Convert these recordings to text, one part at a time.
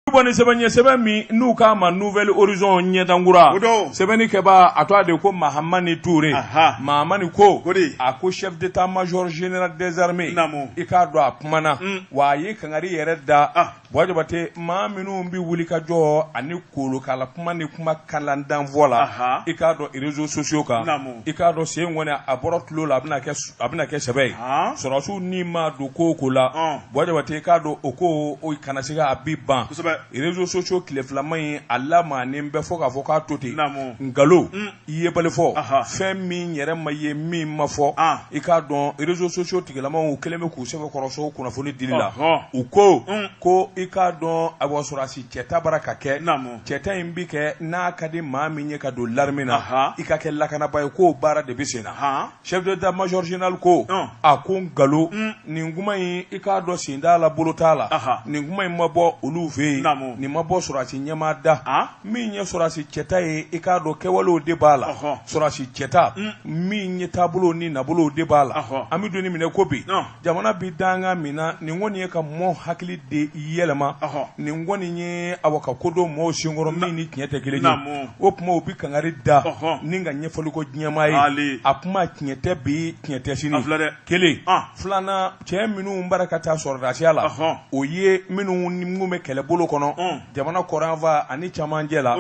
bon nin sɛbɛn ɲɛ sɛbɛn min n'u k'a ma nouvel horizon ɲɛdankura O don. sɛbɛnni kɛbaa a tɔgɔ de ko mahamani ture Aha. mahamani ko O de. a ko chef d'état major général des armées Naamu. i k'a dɔn a kumana Mm. wa a ye kangari yɛrɛ da Ah. bon jabate maa minnu bɛ wuli ka jɔ ani kolokala kuma ni kuma kalantan fɔ la Aha. i k'a dɔn réseaux sociaux kan Naamu. i k'a dɔn sen kɔni a bɔra tulon la a bɛna kɛ su- a bɛna kɛ sɛbɛ ye Ah. sɔrɔsiw ni ma don ko o ko la Ɔn. Bon jabate i k'a dɔn o ko o kana se a bi ban réseaux sociaux tile filama in a lamaanen bɛ fɔ k'a fɔ k'a to ten nkalon i yebali fɔ fɛn min yɛrɛ ma ye min ma fɔ i k'a dɔn réseaux sociaux tigilamaw kɛlen bɛ k'u sɛbɛn kɔrɔso kunnafoni dili la u ko ko i k'a dɔn a sɔrɔsi cɛta bara ka kɛ cɛta in bɛ kɛ n'a ka di maa min ye ka don l'armée na i ka kɛ lakanaba ye k'o baara de bɛ sen na chef d'état major général ko a ko nkalon nin kuma in i k'a dɔn sen t'a la bolo t'a la nin kuma in ma bɔ olu fɛ yen nin ma bɔ sɔrɔsi ɲɛmaa da min ye sɔrɔsi cɛta ye i k'a dɔn kɛwalew de b'a la sɔrɔsi cɛta min ye taabolo ni nabolow de b'a la an bɛ don min na i ko bi jamana bɛ dankan min na nin kɔni ye ka mɔɔ hakili de yɛlɛma nin kɔni ye awa ka ko don maaw sen kɔrɔ min ni tiɲɛ tɛ kelen ye o kuma u bɛ kangari da ni ka ɲɛfɔli ko diɲɛmaa ye a kuma tiɲɛ tɛ bi tiɲɛ tɛ sini kelen filanan cɛ minnu bara ka taa sɔrɔdasiya la o ye minnu bɛ kɛlɛbolo kɔnɔ jamana kɔrɔn fan ani camancɛ la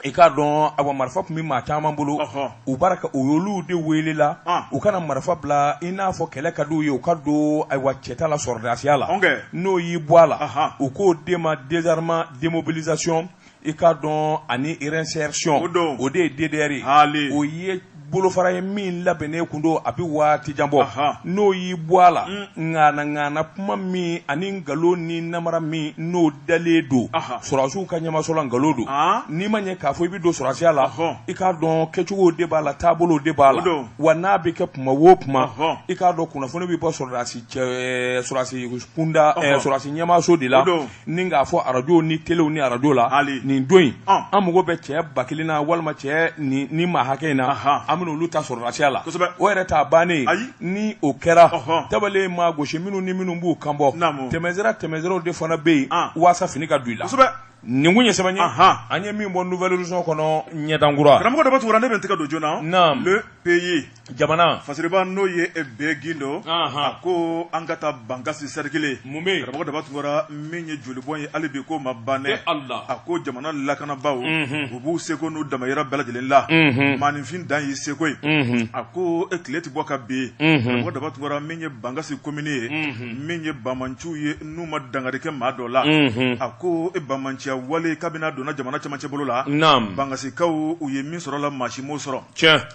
i k'a dɔn a marifa tun bɛ maa caman bolo u bara ka u y'olu de welela u ka na marifa bila i n'a fɔ kɛlɛ ka d'u ye u ka don ayiwa cɛta la sɔrɔdasiya la n'o y'i bɔ a la u k'o de ma désarmement démobilisation i k'a dɔn ani réinsertion o de ye DDR ye o ye bolofara ye min labɛnnen kun don a bɛ waati jan bɔ n'o y'i bɔ a la ŋana ŋana kuma min ani nkalon ni namara min n'o dalen don sɔrɔdasiw ka ɲɛmaso la nkalon don n'i m'a ye k'a fɔ i bɛ don sɔrɔdasiya la i k'a dɔn kɛcogo de b'a la taabolo de b'a la wa n'a bɛ kɛ kuma o kuma i k'a dɔn kunnafoni bɛ bɔ sɔrɔdasi cɛ sɔrɔdasi kunda sɔrɔdasi ɲɛmaso de la ni k'a fɔ arajo ni telew ni arajo la nin don in an mago bɛ cɛ ba kelen na walima cɛ ni maa hakɛ in na an bɛna olu ta sɔrɔdasiya la o yɛrɛ t'a bannen ni o kɛra tabalen maa gosi minnu ni minnu b'u kan bɔ tɛmɛsira tɛmɛsiraw de fana bɛ yen walasa fini ka don i la nin kun ye sɛbɛn ye an ye min bɔ nouvel horizon kɔnɔ ɲɛdankura karamɔgɔ de bɛ tu ne bɛ n tɛgɛ don journal le pays jamana fasiriba n'o ye be gindo a ko an ka taa bankasi sɛrikili mun bɛ karamɔgɔ daba tunkara min ye jolibɔn ye hali bi ko ma ban dɛ a ko jamana lakanabaaw u b'u seko n'u damayira bɛɛ lajɛlen la maaninfin dan y'i seko ye a ko e tile tɛ bɔ ka bin karamɔgɔ daba tunkara min ye bankasi komini ye min ye bamanciw ye n'u ma dankari kɛ maa dɔ la a ko e bamanciya wale kabini a donna jamana camancɛ bolo la bankasikaw u ye min sɔrɔ la maa si m'o sɔrɔ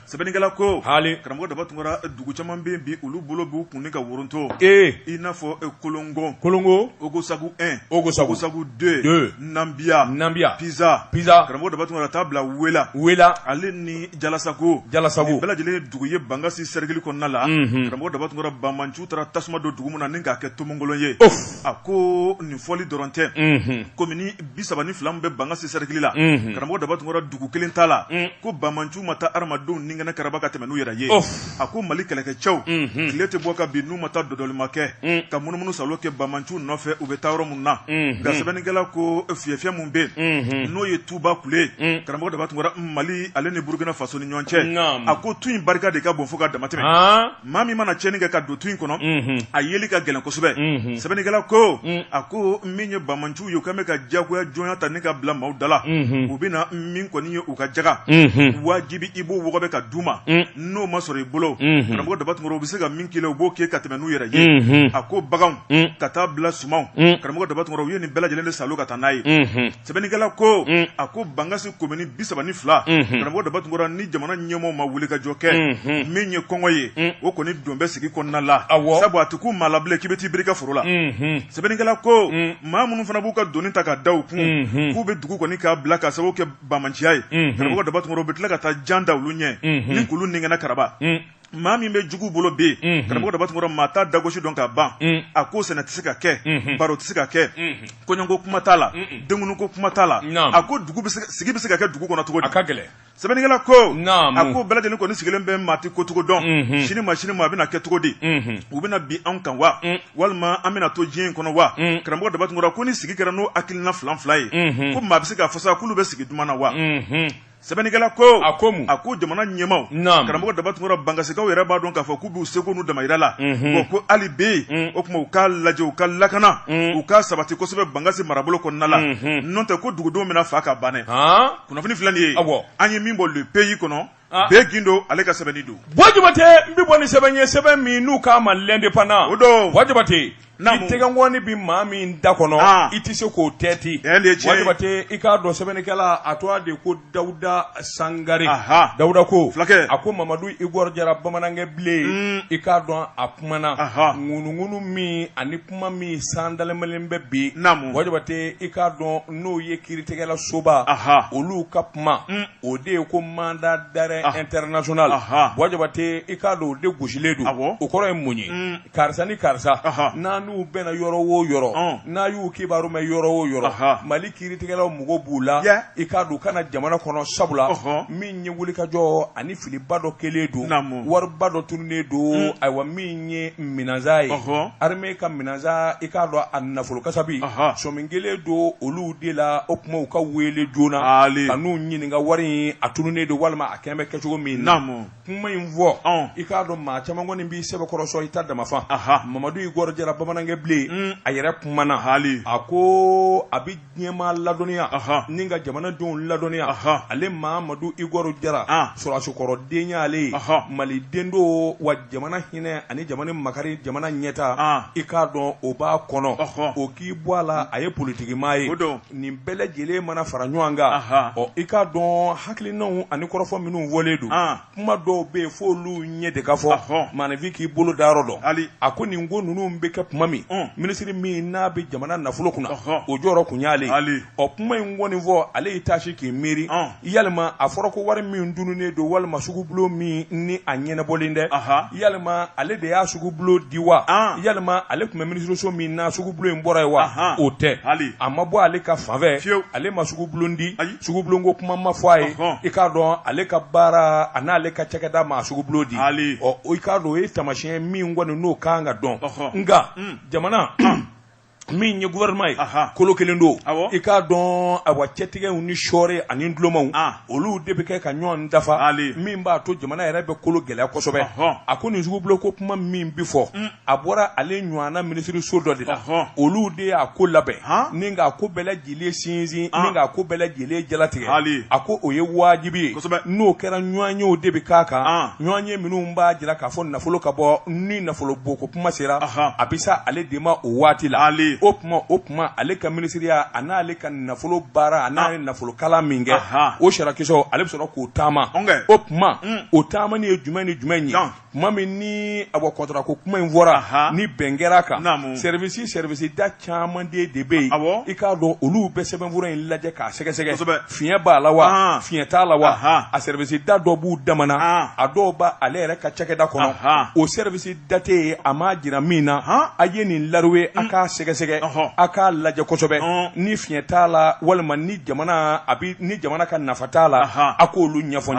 sɛbɛnnikɛla ko haali karamɔgɔ daba tunkara dugu caman bɛ yen bi olu bolo b'u kun ni ka woronto ee i n'a fɔ kolongo kolongo ogosagu un ogosagu deux nabiya nabiya piza piza karamɔgɔ daba tunkara taa bila wela wela ale ni jalasago jalasago bɛɛ lajɛlen ye dugu ye bankasi sɛrikili kɔnɔna la karamɔgɔ daba tunkara bamanciw taara tasuma don dugu min na ni k'a kɛ tomonkolon ye a ko nin fɔli dɔrɔn tɛ ko bi saba ni fila bɛ bankasi sɛrikili la karamɔgɔ daba tunkara dugu kelen t'a la ko bamanciw ma taa hadamadenw ninkɛnɛ karaba ka tɛmɛ n'u yɛrɛ ye a ko mali kɛlɛkɛcɛw tile tɛ bɔ ka bin n'u ma taa dɔdɔlima kɛ ka munumunu saalo kɛ bamanciw nɔfɛ u bɛ taa yɔrɔ min na nka sɛbɛnnikɛla ko fiyɛfiyɛ min bɛ yen n'o ye tuba kule karamɔgɔ daba tunkara mali ale ni burukina faso ni ɲɔgɔn cɛ a ko tu in barika de ka bon fo ka damatɛ maa min mana cɛnni kɛ ka don tu in kɔnɔ a yeli ka gɛlɛn kosɛbɛ sɛbɛnnikɛla ko a ko min ye bamanciw ye k'u bɛ ka jagoya jɔnya ta ni ka bila maaw da la u bɛ na min kɔni ye u ka jaga wajibi i b'o wɔgɔbɛ ka d'u ma n'o ma sɔrɔ i bolo karamɔgɔ daba tunkara u bɛ se ka min k'i la u b'o kɛ ka tɛmɛ n'u yɛrɛ ye a ko baganw ka taa bila sumanw ma karamɔgɔ daba tunkara u ye nin bɛɛ lajɛlen de saalo ka taa n'a ye sɛbɛnnikɛla ko mm. a ko bangasi komini bi saba ni fila mm-hmm. karamɔgɔ daba tunkara ni jamana ɲɛmɔgɔw ma wuli ka jɔ kɛ mm-hmm. min ye kɔngɔ ye mm. o kɔni don bɛ sigi kɔnɔna la sabu a tɛ kun maa la bilen k'i bɛ t'i biri i ka foro la mm-hmm. sɛbɛnnikɛla ko mm. maa minnu fana b'u ka doni ta ka da u kun k'u bɛ dugu kɔni k'a bila k'a sababu kɛ bamanciya ye karamɔgɔ daba tunkara u bɛ tila ka taa jan da olu ɲɛ ni k'olu ninkɛnɛ karaba maa min bɛ jugu bolo bi mm-hmm. karamɔgɔ daba tunkara maa t'a dagosi dɔn ka ban mm. a ko sɛnɛ tɛ se ka kɛ mm-hmm. baro tɛ se ka kɛ mm-hmm. kɔɲɔko kuma t'a la denkunuko kuma t'a la a ko sigi bɛ se ka kɛ dugu kɔnɔ cogo di a ka gɛlɛn sɛbɛnnikɛla ko a ko bɛɛ lajɛlen kɔni sigilen bɛ maa t'i kɛcogo dɔn sini ma sini ma a bɛna kɛ cogo di u bɛna bin anw kan wa mm. walima an bɛna to diɲɛ in kɔnɔ wa mm. karamɔgɔ daba tunkara ko ni sigi kɛra n'o hakilina fila fila ye ko maa bɛ se ka fɔ sa k'olu bɛ sigi duman na wa sɛbɛnnikɛla ko a ko mun a ko jamana ɲɛmaw Naam. karamɔgɔ daba tunkara bangasikaw yɛrɛ b'a dɔn k'a fɔ k'u b'u seko n'u damayira la Mhm. bon ko hali bi Mm. o tuma u k'a lajɛ u ka lakana Mm. u k'a sabati kosɛbɛ bangasi marabolo kɔnɔna la Mhm. n'o tɛ ko dugudenw bɛna faa ka banɛ han kunnafoni filɛ nin ye Awɔ. an ye min bɔ le pays kɔnɔ Ah. be gindo ale ka sɛbɛnni don bɔ jabate n bɛ bɔ ni sɛbɛn ye sɛbɛn min n'u k'a ma l'indépendant O don. bɔ jabate Naamu. I tɛgɛnkɔni bɛ maa min da kɔnɔ, an, i tɛ se k'o tɛɛti, tiɲɛ de ye tiɲɛ ye, wa Jabate i k'a dɔn sɛbɛnnikɛla a tɔgɔ de ko Dawuda Sangare, aha, Dawuda ko, fulakɛ, a ko Mamadu Igɔr Jara bamanankɛ bilen, un, i k'a dɔn a kumana, aha, ŋunuŋunu min ani kuma min san dalenbalen bɛ bi, naamu, wa Jabate i k'a dɔn n'o ye kiiritigɛlasoba, aha, olu ka kuma, un, o de ye ko mandat d'arrêt international, aha, wa Jabate i k'a dɔn o de gosilen don, awɔ, o kɔrɔ ye mun ye, un karisa ni karisa n'a n'u bɛnna yɔrɔ wo yɔrɔ n'a y'u kibaru mɛn yɔrɔ wo yɔrɔ mali kiiritigɛlaw mago b'u la i k'a dɔn u ka na jamana kɔnɔ sabula min ye wulikajɔ ani filiba dɔ kɛlen don wariba dɔ tununnen don hmm. ayiwa min ye minɛnsan ye armée ka minɛnsan i k'a dɔn a nafolo kasabi sɔmin kɛlen don olu de la o kuma u ka wele joona ka n'u ɲininka wari in a tununnen don walima a kɛlen bɛ kɛcogo min na. kuma in fɔ i k'a dɔn maa caman kɔni b'i sɛbɛkɔrɔ sɔn i ta damafa Mamadu Igɔr Jara bamanankɛ bilen mm. a yɛrɛ kumana hali a ko a bɛ diɲɛmaa ladɔnniya ni ka jamanadenw ladɔnniya ale Mamadu Igɔr Jara ah. sɔrɔsikɔrɔ den y'ale ye mali den don wa jamana hinɛ ani jamana makari jamana ɲɛta ah. i k'a dɔn o b'a kɔnɔ o k'i bɔ a la a ye politikimaa ye nin bɛɛ lajɛlen mana fara ɲɔgɔn kan ɔ i k'a dɔn hakilinaw ani kɔrɔfɔ minnu fɔlen don kuma dɔw bɛ yen f'olu ɲɛ de ka fɔ maanifin k'i bolo da yɔrɔ dɔn a ko nin ko ninnu bɛ kɛ kuma min minisiri min n'a bɛ jamana nafolo kunna o jɔyɔrɔ tun y'ale ɔ kuma in kɔni fɔ ale y'i taasi k'i miiri yalima a fɔra ko wari min tununnen don walima sugubulon min ni a ɲɛnabɔlen dɛ yalima ale de y'a sugubulon di wa yalima ale tun bɛ minisiriso min na sugubulon in bɔra yen wa o tɛ a ma bɔ ale ka fanfɛ ale ma sugubulon di sugubulon ko kuma ma fɔ a ye i k'a dɔn ale ka baara a n'ale ka cakɛda ma sugubulon di ɔ i k'a dɔn o ye taamasiyɛn min kɔni n'o ka kan ka dɔn nka jamana min ye gouvernement ye Aha. kolo kelen don Awɔ. i k'a dɔn awa cɛtigɛw ni sɔɔre ani dulonmaw Ah. olu de bɛ kɛ ka ɲɔgɔn dafa Hali. min b'a to jamana yɛrɛ bɛ kolo gɛlɛya kosɛbɛ Ɔhɔn. a ko nin sugubulon ko kuma min bi fɔ a bɔra ale ɲɔgɔnna minisiriso dɔ de la Ɔhɔn. olu de y'a ko labɛn Han. ni k'a ko bɛɛ lajɛ ye sinsin ni k'a ko bɛɛ lajɛlen jalatigɛ a ko o ye wajibi ye n'o kɛra ɲɔgɔnyew de bɛ k'a kan ɲɔgɔnye minnu b'a jira k'a fɔ nafolo ka bɔ ni nafolo bɔ ko kuma sera a bɛ se ale de ma o waati la o tuma o tuma ale ka minisiriya a n'ale ka nafolo baara a n'a ye nafolo kalan min kɛ o sirakisɛw ale bɛ sɔrɔ k'o taama o tuma o taamani ye jumɛn ni jumɛn in ye tuma min ni a bɔ kɔntara ko kuma in fɔra ni bɛn kɛra a kan service service da caman de bɛ yen i k'a dɔn olu bɛ sɛbɛnfura in lajɛ k'a sɛgɛsɛgɛ fiɲɛ b'a la wa fiɲɛ t'a la wa a service da dɔ b'u dama na a dɔw b' ale yɛrɛ ka cakɛda kɔnɔ o service da tɛ yen a ma jira min na a ye nin lauru ye a mm. k'a sɛgɛsɛgɛ a k'a lajɛ kosɛbɛ ni fiɲɛ t'a la walima ni jamana a ni jamana ka nafa t'a la a k'olu ɲɛfɔ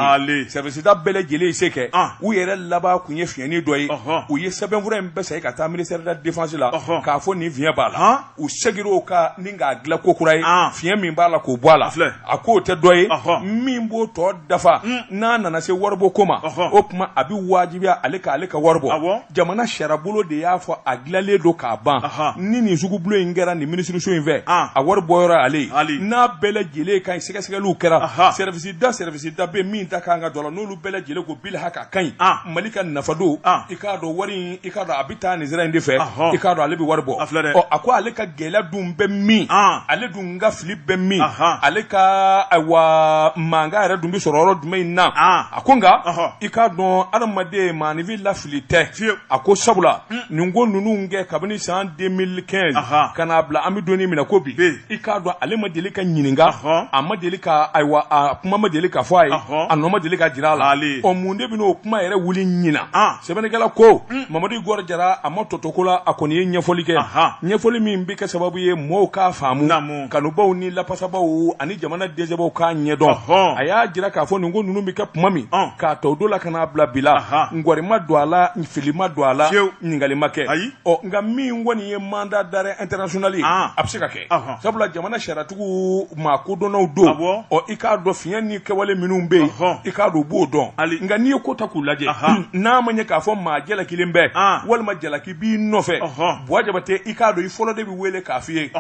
si da bɛɛ lajɛlen se kɛ u yɛrɛ laban tun ye fiɲɛnin dɔ ye u ye sɛbɛnfura in bɛɛ ka taa ministère de la défense la k'a fɔ nin fiɲɛ in b'a la u seginna o kan k'a dilan ko kura ye fiɲɛ min b'a la k'o bɔ a la a k'o tɛ dɔ ye min b'o tɔ dafa n'a nana se waribɔ ko ma o tuma a bɛ wajibiya ale ka ale ka wari bɔ jamana sariyabolo de y'a fɔ a dilanlen don k'a ban ni nin sugubolo in kɛra nin minisiriso in fɛ a wari bɔ ale n'a bɛɛ lajɛlen ka ɲi sɛgɛsɛgɛliw kɛra da service da bɛɛ min da kan ka don a la n'olu bɛɛ lajɛlen ko bilhaka a ka ɲi ah. mali ka nafa don ah. i k'a dɔn wari i k'a dɔn a bɛ taa nin sira in de fɛ i k'a dɔn ale bɛ wari bɔ a ko ale ka gɛlɛya dun bɛ min ah. ale dun ka fili bɛ min ale ka wa mankan yɛrɛ dun bɛ sɔrɔ yɔrɔ jumɛn in na a ko nka i k'a dɔn adamaden maanifin lafili tɛ a ko sabula hmm. nin ko ninnu kɛ kabini san deux mille quinze ka n'a bila an bɛ don min na ko bi i k'a dɔn ale ma deli ka ɲininka a ma deli ka ayiwa a kuma ma deli ka fɔ a ye a nɔ ma deli ka jira a la ɔ mun de bɛna o kuma yɛrɛ wuli ɲinan sɛbɛnnikɛla ko hmm. mamadu igor jara a ma tɔ to ko la a kɔni ye ɲɛfɔli kɛ ɲɛfɔli min bɛ kɛ sababu ye mɔɔw k'a faamu kanubaw ni lapasabaw ani jamanaden sɛbɛw k'a ɲɛdɔn a y'a jira k'a fɔ nin ko ninnu bɛ kɛ kuma min k'a ta o don la ka n'a bila bi la nkɔri ma don a la fili ma dɔn a la ɲininkali ma kɛ ɔ nka min kɔni ye mandat d'arrêt international ye ah. a bɛ se ka kɛ sabula jamana sariyatigiw maa kodɔnnaw don ah, ɔ i k'a dɔn fiɲɛ ni kɛwale minnu bɛ yen i k'a dɔn u b'o dɔn nka n'i ye ko ta k'u lajɛ n'a ma ɲɛ k'a fɔ maa jalakilen bɛ ah. walima jalaki b'i nɔfɛ buwa jabatɛ i k'a dɔn i fɔlɔ de bɛ wele k'a f'i ye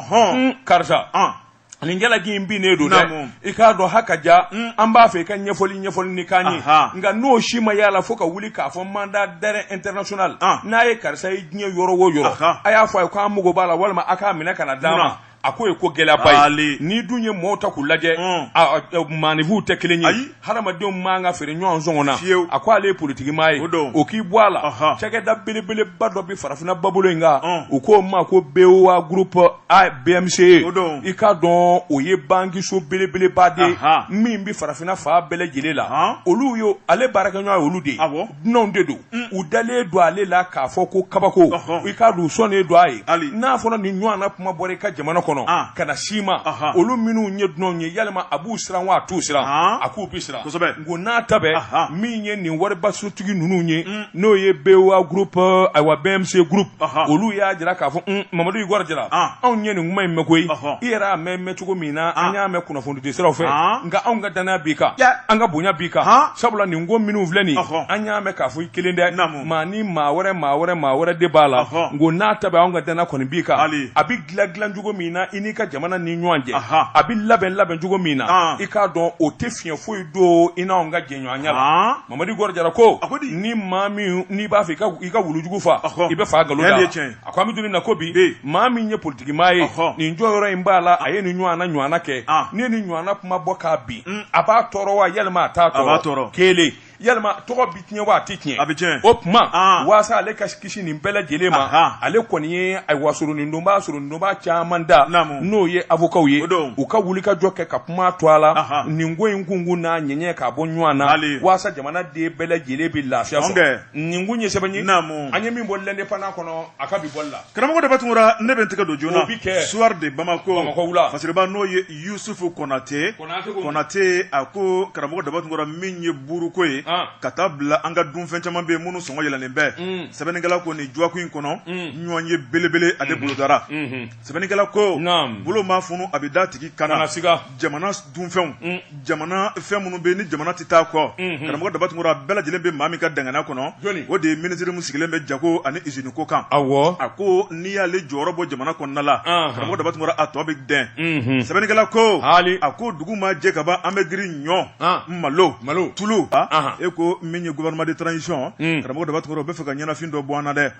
karisa nin jalaki in binnen don dɛ i k'a dɔn ha ka ja mm. an b'a fɛ i ka ɲɛfɔli ɲɛfɔli nin k'an ye nka n'o si ma y'a la fo ka wuli k'a fɔ mandat d'arrêt international ah. n'a ye karisa ye diɲɛ yɔrɔ o yɔrɔ a y'a fɔ a ye k'an mago b'a la walima a k'a minɛ ka n'a d'an ma a k'o ye ko gɛlɛyaba ye n'i dun ye mɔɔw ta k'u lajɛ mm. maanifinw tɛ kelen ye hadamadenw man ka feere ɲɔgɔn sɔngɔ na fiyewu a ko ale ye politiki maa ye o don o k'i bɔ a la Ɔhɔn. cakɛda belebeleba dɔ bɛ farafinna babolo in kan Ɔn. u k'o ma ko BOA groupe A BMCE O don. i k'a dɔn o ye bankiso belebeleba de ye Ahan. min bɛ farafinna fan bɛɛ lajɛlen la Ɔn. olu ye ale baarakɛɲɔgɔn ye olu de ye Awɔ. dunanw de don u dalen don ale la k'a fɔ ko kabako i k'a dɔn u sɔnnen don a ye n'a fɔra nin ɲɔgɔnna kuma bɔra i ka jamana kɔnɔ ka na si ma olu minnu ye dunanw ye yalima a b'u siran wa a t'u siran a k'u bi siran nk'o n'a ta bɛɛ min ye nin waribasotigi ninnu ye n'o ye BOA groupe ayiwa BMCE groupe olu y'a jira k'a fɔ mamadu igɔri jara anw ye nin kuma in mɛn koyi i yɛrɛ y'a mɛn cogo min na an y'a mɛn kunnafonidi siraw fɛ nka anw ka dannaya b'i kan an ka bonya b'i kan sabula nin ko minnu filɛ nin an y'a mɛn k'a fɔ i kelen tɛ maa ni maa wɛrɛ maa wɛrɛ maa wɛrɛ de b'a la nk'o n'a ta bɛɛ anw ka dannaya kɔni b'i kan a bɛ dilan dilan cogo min na i n'i ka jamana ni ɲɔgɔn cɛ a bɛ labɛn labɛn cogo min na i k'a dɔn o tɛ fiɲɛ foyi don i n'anw ka jɛɲɔgɔnya la mamadu igɔri jara ko ni maa min n'i b'a fɛ i ka wulujugu fa i bɛ fa nkalon a ko an bɛ don na ko bi maa min ye politiki maa ye nin jɔyɔrɔ in b'a la a ye nin ɲɔgɔnna ɲɔgɔnna kɛ ah. ni nin ɲɔgɔnna kuma bɔ k'a bin mm. a b'a tɔɔrɔ wa yalima a t'a tɔɔrɔ kelen yalima tɔgɔ bɛ tiɲɛ wa a tɛ tiɲɛ a bɛ tiɲɛ o tuma ah. waasa ale ka kisi nin bɛɛ lajɛlen ma ale kɔni ye ayiwa soronadonbaa soronadonbaa caman ta n'o ye avokaw ye u ka wuli ka jɔ kɛ ka kuma to a la nin ko in kunkun n'a ɲɛɲɛ k'a bɔ ɲɔgɔn na waasa jamanaden bɛɛ lajɛlen bɛ lafiya sɔrɔ nin kun ye sɛbɛn ye naamu an ye min bɔ l'indépendant kɔnɔ a ka bi bɔli la karamɔgɔ daba tunkara ne bɛ n tɛgɛ don joona o bi kɛ soir de bamako bamako wula fasiriba n'o ye yusufu konate konate a ko karamɔgɔ daba tunkara min ye buuruko ye ah. ka taa bila an ka dunfɛn caman bɛ yen minnu sɔngɔ yɛlɛnnen bɛ mm. sɛbɛnnikɛla ko nin dɔgɔkun in kɔnɔ mm. ɲɔgɔnye belebeleba de mm-hmm. bolodara mm-hmm. sɛbɛnnikɛla ko Naam. bolo ma funu a bɛ d'a tigi kan na Kana siga. jamana s- dunfɛnw Mm. jamana fɛn minnu bɛ yen ni jamana tɛ taa kɔ Mhm. karamɔgɔ daba tunkara bɛɛ lajɛlen bɛ maa min ka dangana kɔnɔ Jɔni? o de ye minisiri min sigilen bɛ jago ani izini ko kan awɔ a ko n'i y'ale jɔyɔrɔ bɔ jamana kɔnɔna la Anhan. karamɔgɔ daba tunkara a tɔ bɛ dɛn Mhm. sɛbɛnnikɛla ko Hali. a ko dugu ma jɛ ka ban an bɛ girin ɲɔ Ah. malo Malo. tulu Ahan. e ko min ye gouvernement de transition Mm. karamɔgɔ daba tunkara o b'a fɛ ka ɲɛnafin dɔ bɔ an na dɛ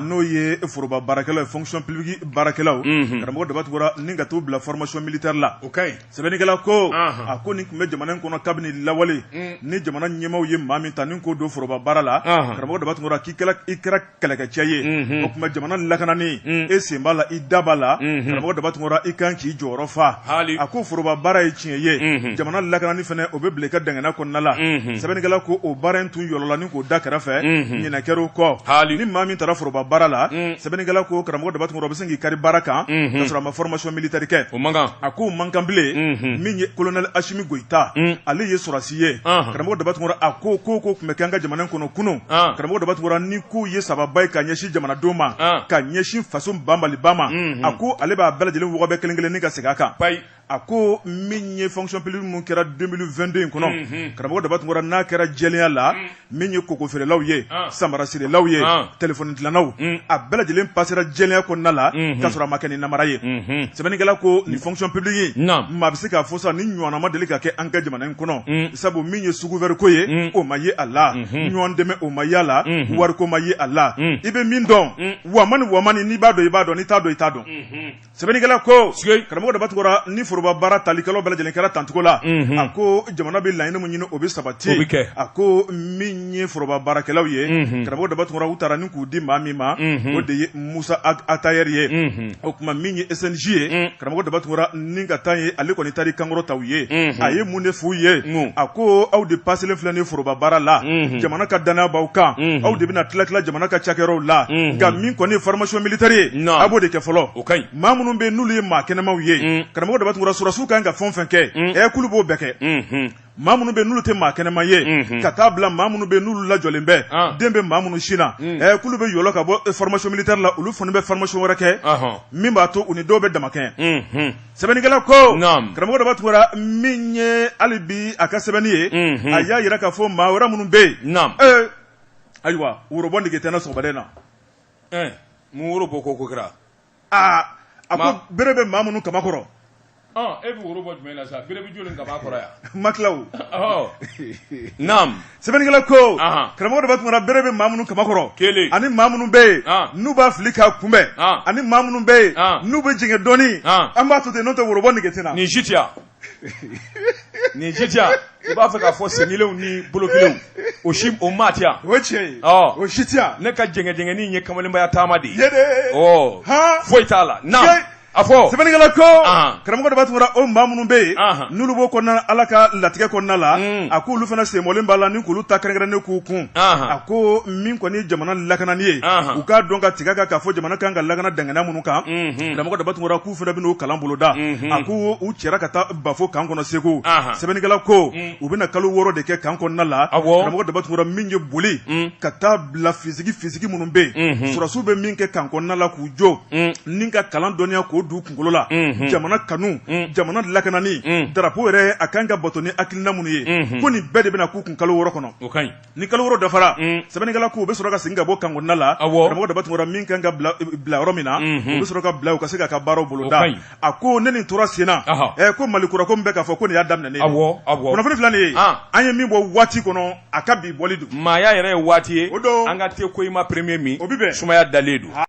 n'o ye foroba baarakɛlaw fonction publique baarakɛlaw karamɔgɔ daba tunkara ni ka t'u bila formation militaire la o ka ɲi sɛbɛnnikɛla ko a ko nin tun bɛ jamana in kɔnɔ kabini lawale ni jamana ɲɛmaaw ye maa min ta ni k'o don foroba baara la karamɔgɔ daba tunkara k'i kɛra kɛlɛkɛcɛ ye o tuma jamana lakanani e sen b'a la i da b'a la karamɔgɔ daba tunkara i kan k'i jɔyɔrɔ fa a ko foroba baara ye tiɲɛ ye jamana lakanani fana o bɛ bila i ka dangana kɔnɔna la sɛbɛnnikɛla ko o baara in tun yɔlɔla ni k'o da kɛrɛfɛ ɲinɛ kɛr'o kɔ hali ni maa min taara foroba baara la sɛbɛnnikɛla ko karamɔgɔ daba tunkara o bɛ se k'i kari baara kan ka sɔrɔ a ma formation militaire kɛ o man a k'o man kan bilen min ye kolonɛli asimi goyita ale ye sɔrɔdasi ye karamɔgɔ daba tunkara a ko ko ko tun bɛ kɛ an ka jamana kɔnɔ kunun karamɔgɔ daba tunkara ni k'o ye sababa ye ka ɲɛsin jamanadenw ma ka ɲɛsin faso banbaliba ma a ko ale b'a bɛɛ lajɛlen wɔgɔbɛ kelen-kelen ni ka segin a kan a ko min ye fonction publique min kɛra 2022 in kɔnɔ karamɔgɔ daba tunkara n'a kɛra jɛlenya la min ye koko feerelaw ye samara sirelaw ye telefɔni dilannaw a bɛɛ lajɛlen pasera jɛlenya kɔnɔna la ka sɔrɔ a ma kɛ ni nanbara ye sɛbɛnnikɛla ko nin fonction publique in maa bɛ se k'a fɔ sa nin ɲɔgɔnna ma deli ka kɛ an ka jamana in kɔnɔ sabu min ye sous-couvert ko ye o ma ye a la ɲɔgɔn dɛmɛ o ma ye a la wariko ma ye a la i bɛ min dɔn wa ni wa n'i b'a dɔn i b'a dɔn i t'a dɔn i t'a dɔn sɛbɛnnikɛla ko karamɔgɔ daba tunkara ni foroba baara talikɛlaw bɛɛ lajɛlen kɛra tancogo la a ko jamana bɛ laɲini min ɲini o bɛ sabati a ko min ye foroba baarakɛlaw ye karamɔgɔ daba tunkara u taara ni k'u di maa min ma o de ye musa atayɛri ye o tuma min ye SNJ ye karamɔgɔ daba tunkara ni ka taa ye ale kɔni taara kan kɔrɔta u ye a ye mun de f'u ye a ko aw de paselen filɛ nin ye foroba baara la jamana ka dannaya b'aw kan aw de bɛna tila tila jamana ka cakɛyɔrɔw la nka min kɔni formation militaire ye a b'o de kɛ fɔlɔ o ka ɲi maa minnu bɛ n'olu ye maa kɛnɛmaw ye karamɔgɔ daba tunkara sɔrɔdasiw kan ka fɛn o fɛn kɛ ɛ kulu b'o bɛɛ kɛ maa minnu bɛ n'u tɛ maa kɛnɛma ye ka taa a bila maa minnu bɛ n'olu lajɔlen bɛ den bɛ maa minnu sin na ɛ kulu bɛ yɔlɔ ka bɔ formation militaire la olu fana bɛ formation wɛrɛ kɛ min b'a to u ni dɔw bɛ damakɛɲɛ sɛbɛnnikɛla ko karamɔgɔ daba tunkara min ye hali bi a ka sɛbɛnni ye a y'a jira k'a fɔ maa wɛrɛ minnu bɛ yen ayiwa worobɔ nege tɛ n na sɔgɔmada in na woro bɔ ko ko kɛra aa a ko bere bɛ maa minnu kamankɔrɔ e bɛ woro bɔ jumɛn na sa bere bɛ jɔni kamankɔrɔ yan ma kilaw naamu sɛbɛnnikɛla ko karamɔgɔ daba tunkara bere bɛ maa minnu kamankɔrɔ kelen ani maa minnu bɛ yen n'u b'a fili k'a kunbɛn ani maa minnu bɛ yen n'u bɛ jɛngɛ dɔɔni an b'a to ten n'o tɛ worobɔ nege tɛ n na nin si tɛ yan nin si tɛ yan i b'a fɛ k'a fɔ senkelenw ni bolokelenw o si o maa tɛ yan o tiɲɛ ye ɔ o si tɛ yan ne ka jɛngɛjɛngɛni in ye kamalenbaya taama de ye dɛ ɔ han foyi t'a la na Tiɲɛ. a fɔ sɛbɛnnikɛla ko Ahan. karamɔgɔ daba tunkara o maa minnu bɛ yen Ahan. n'olu b'o kɔnɔna ala ka latigɛ kɔnɔna la Mm. a k'olu fana senbɔlen b'a la ni k'olu ta kɛrɛnkɛrɛnnen k'u kun Ahan. a ko min kɔni ye jamana lakanani ye Ahan. u k'a dɔn ka tigɛ a kan k'a fɔ jamana kan ka lakana dangana minnu kan Mhm. karamɔgɔ daba tunkara k'u fana bɛn'o kalan boloda a ko u cɛra ka taa bafo kan kɔnɔ segu sɛbɛnnikɛla ko u bɛna kalo wɔɔrɔ de kɛ kan kɔnɔna la a karamɔgɔ daba tunkara min ye boli ka taa bila physique physique minnu bɛ yen sɔrɔdasiw bɛ min kɛ kan kɔnɔna la k'u jɔ ni ka kalan dɔnniya k'o don u kunkolo la jamana kanu jamana lakanani darapo yɛrɛ a kan ka bato ni hakilina minnu ye ko nin bɛɛ de bɛna k'u kun kalo wɔɔrɔ kɔnɔ ni kalo wɔɔrɔ dafara sɛbɛnnikɛla k'u bɛ sɔrɔ ka segin ka bɔ kan kɔnɔna la karamɔgɔ daba tunkara min kan ka bila yɔrɔ min na u bɛ sɔrɔ ka bila u ka se k'a ka baaraw boloda a ko ni nin tora senna ko mali kura ko min bɛ ka fɔ ko nin y'a daminɛnen ye kunnafoni filɛ nin ye an ye min bɔ waati kɔnɔ a ka bi bɔli don maaya yɛrɛ ye waati ye o don an ka te ko i ma premier min o bɛ sumaya dalen don